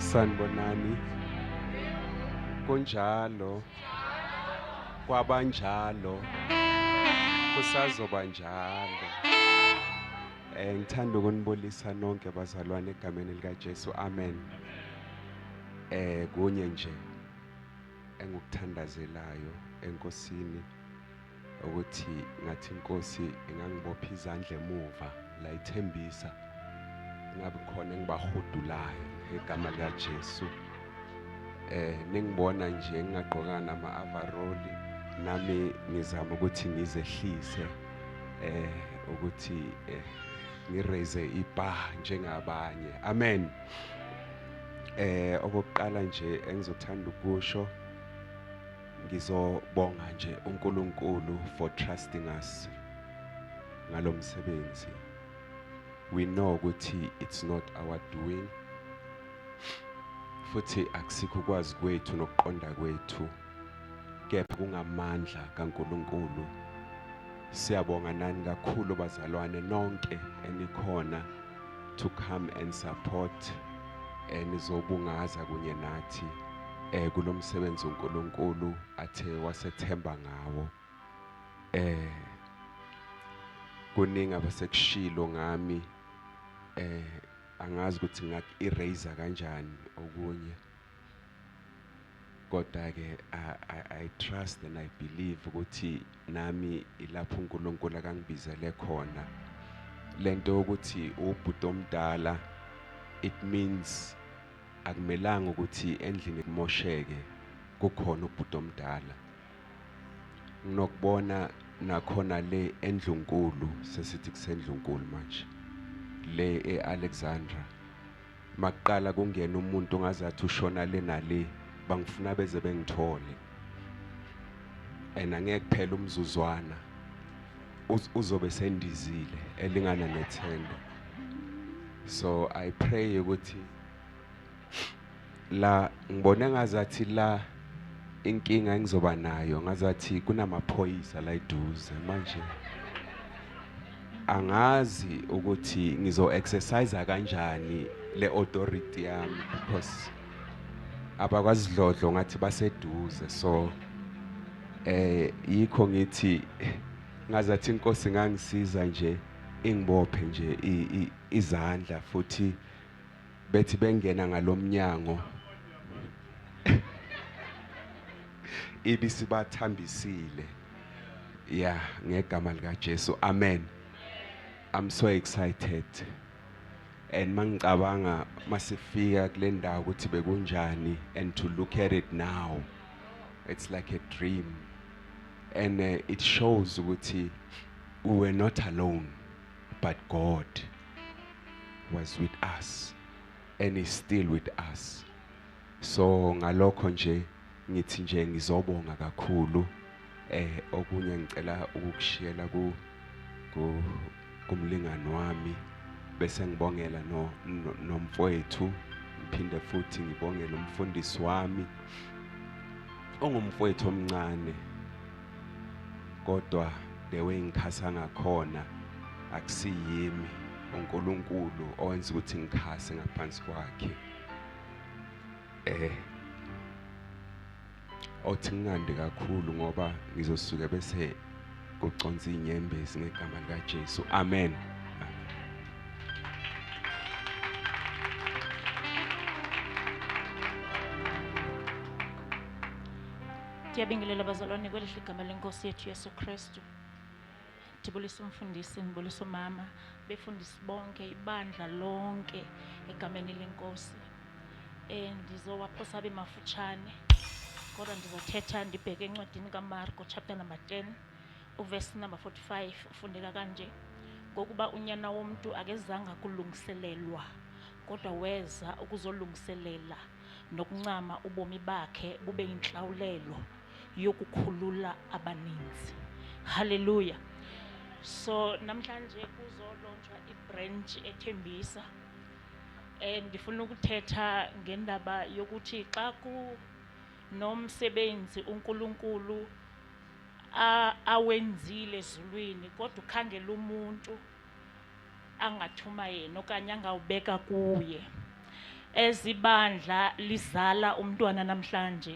Sanibonani. Kunjalo. Kwabanjalo. Kusazoba njalo. Eh ngithanda ukunibulisa nonke bazalwane egameni lika Jesu. Amen. Eh kunye nje engikuthandazelayo enkosini ukuthi ngathi inkosi ingangibopha izandla emuva layithembisa ngabe khona engibahudulayo ngegama likaJesu eh ningibona nje ngingagqoka nama overall nami ngizama ukuthi ngizehlise eh ukuthi eh ngiraise ibar njengabanye amen eh okokuqala nje engizothanda ukusho Ngizobonga nje uNkulunkulu for trusting us ngalomsebenzi. We know ukuthi it's not our doing. Futhi akusikho kwazi kwethu nokuqonda kwethu. Kepha kungamandla kaNkulunkulu. Siyabonga nani kakhulu bazalwane nonke enikhona to come and support enizobungaza eh, kunye nathi eh kulomsebenzi uNkulunkulu athe wasethemba ngawo eh kuningi abasekushilo ngami eh angazi ukuthi ngaku erase kanjani okunye Kodwa ke I, I, I trust and I believe ukuthi nami ilapho uNkulunkulu akangibizele khona lento ukuthi ubhuti omdala it means akumelanga ukuthi endlini kumosheke kukhona ubhuti omdala nginokubona nakhona le endlunkulu sesithi kusendlunkulu manje le eAlexandra makuqala kungena umuntu ongazathi ushona le nale bangifuna beze bengithole and angeke kuphela umzuzwana uzobe sendizile elingana nethenda so i pray ukuthi La ngibona ngazathi la inkinga engizoba nayo ngazathi kunamaphoyisa la eduze manje angazi ukuthi ngizo exercise kanjani le authority yami because abakwasidlodlo ngathi baseduze so eh yikho ngithi ngazathi inkosi ngangisiza nje ingibophe nje izandla futhi bethi bengena ngalomnyango ibisibathambisile ya ngegama lika Jesu amen i'm so excited and mangicabanga masifika kule ndawo ukuthi bekunjani and to look at it now it's like a dream and uh, it shows ukuthi we were not alone But God was with us and is still with us. So ngalokho nje ngithi nje ngizobonga kakhulu eh okunye ngicela ukukushiyela ku kumlingani wami bese ngibongela no nomfowethu ngiphinde futhi ngibongele umfundisi wami ongumfowethu omncane kodwa the way ngikhasa ngakhona akusiyimi uNkulunkulu owenza ukuthi ngikhase ngaphansi kwakhe eh othi ngingandi kakhulu ngoba ngizosuke bese kuconsa inyembezi ngegama likaJesu amen Ndiyabingelela bazalwane kwelihle igama lenkosi yethu Yesu Kristu. Ndibulisa umfundisi, ndibulisa umama, befundisi bonke, ibandla lonke egameni lenkosi. Eh ndizowaphosa abe mafutshane. Kodwa ndizothetha ndibheke encwadini kaMarko chapter number 10 uverse number 45 ufundeka kanje. Ngokuba unyana womntu akezanga kulungiselelwa kodwa weza ukuzolungiselela nokuncama ubomi bakhe bube inhlawulelo yokukhulula abaninzi haleluya so namhlanje kuzolontshwa ibranch ethembisa um ndifuna ukuthetha ngendaba yokuthi xa kunomsebenzi unkulunkulu awenzile ezulwini kodwa ukhangela umuntu angathuma yena okanye angawubeka kuye ezibandla lizala umntwana namhlanje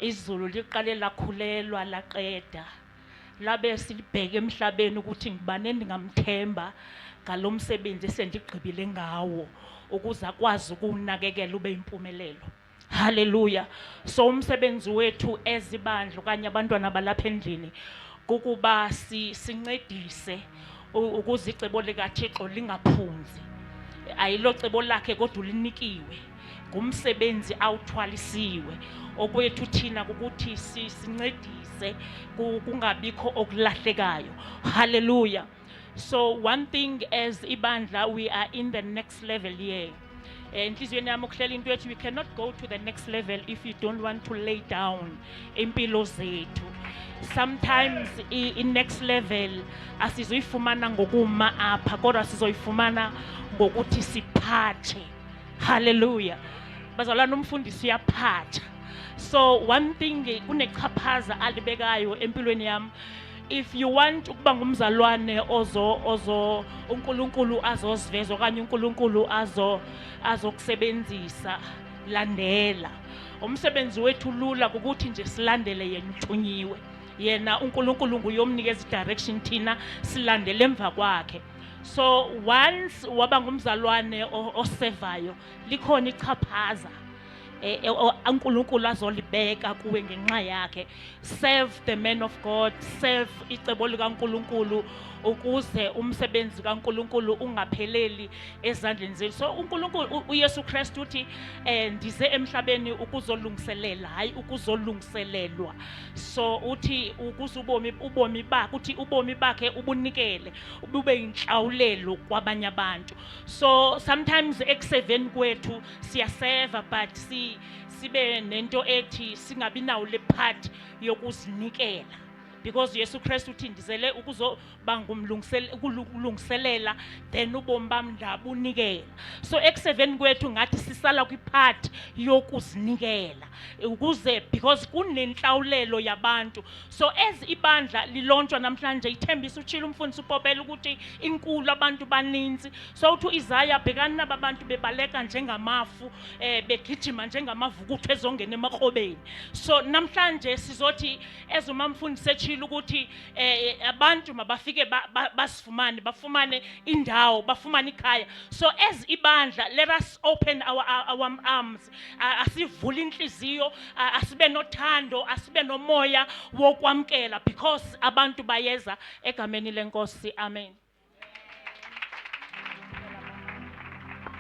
izulu liqale lakhulelwa laqeda labe silibheke emhlabeni ukuthi ngibane ndingamthemba ngalo msebenzi esendigqibile ngawo ukuze akwazi ukuwunakekela ube yimpumelelo Hallelujah. So umsebenzi wethu ezibandla okanye abantwana balapha endlini kukuba si, sincedise ukuze icebo likaThixo lingaphunzi. Ayilo cebo lakhe kodwa ulinikiwe. Ngumsebenzi awuthwalisiwe. Okwethu thina ukuthi sincedise kungabikho okulahlekayo. Hallelujah. So one thing as ibandla we are in the next level here. Eh, enhliziyweni yami ukuhlela into ethi we cannot go to the next level if you don't want to lay down impilo zethu sometimes i-next level asizoyifumana ngokuma apha kodwa sizoyifumana ngokuthi siphathe haleluya bazalwana umfundisi uyaphatha so one thing kunechaphaza alibekayo empilweni yami if you want ukuba ngumzalwane ozo ozo uNkulunkulu azoziveza okanye uNkulunkulu azo azokusebenzisa landela umsebenzi wethu lula ukuthi nje silandele yena uthunyiwe yena uNkulunkulu nguyomnikeza direction thina silandele emva kwakhe so once waba ngumzalwane osevayo likhona ichaphaza eh, eh, uNkulunkulu azolibeka kuwe ngenxa yakhe serve the man of God serve icebo likaNkulunkulu ukuze umsebenzi kaNkulunkulu ungapheleli ezandleni zethu so uNkulunkulu uYesu Kristu uthi eh ndize emhlabeni ukuzolungiselela hayi ukuzolungiselelwa so uthi ukuze ubomi ubomi bakhe uthi ubomi bakhe ubunikele ubube inhlawulelo kwabanye abantu so sometimes ekuseveni kwethu siyaseva but si sibe nento ethi singabi nawo le part yokuzinikela because Yesu Kristu uthi ndizele ukuzoba ngumlungiselela then ubomi bami ndabunikela so ekuseveni kwethu ngathi sisala kwipart yokuzinikela ukuze because kunenhlawulelo yabantu so as ibandla lilontshwa namhlanje ithembisa utshilo umfundisi upopela ukuthi inkulu abantu baninzi Sawuthi u-Isaya, Bhekani laba bantu bebaleka njengamafu, eh, begijima njengamavukuthu ezongena emakrobeni. So namhlanje sizothi as umamfundisi eshilo ukuthi eh, abantu mabafike ba- ba- basifumane, bafumane indawo, bafumane ikhaya. So as ibandla, let us open our, our our arms, A- asivule inhliziyo, a- asibe nothando, asibe nomoya wokwamkela because abantu bayeza egameni lenkosi amen